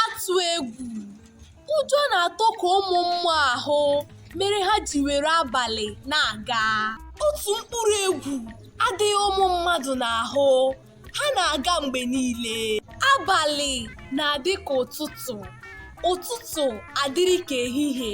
atụ egwu ụjọ na-atụ ka ụmụ mmụọ ahụ mere ha ji were abalị na-aga otu mkpụrụ egwu adịghị ụmụ mmadụ n'ahụ ha na-aga mgbe niile abalị na-adị ka ụtụtụ ụtụtụ adịrị ka ehihie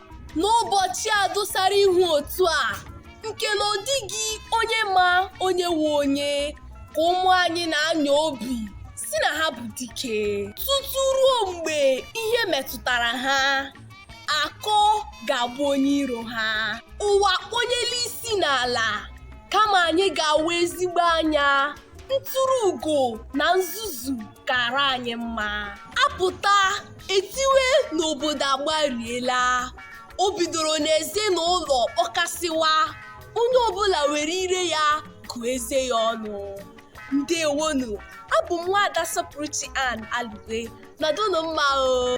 n'ụbọchị a dọsara ihu otu a nke na ọ dịghị onye ma onye wu onye ka ụmụ anyị na-anya obi sị na ha bụ dike tutu ruo mgbe ihe metụtara ha aka ọ ga-abụ onye iro ha ụwa kpọnyela isi n'ala kama anyị ga-awa ezigbo anya ntụrụ ugo na nzuzu kara anyị mma a pụta e tiwe na obodo agbariela o bidoro n'ezinụlọ kpọkasịwa onye ọbụla were ire ya gụọ eze ya ọnụ ndeewonụ abụ m nwaada sọpụrụchi ann alugwe nọdụnụ mma o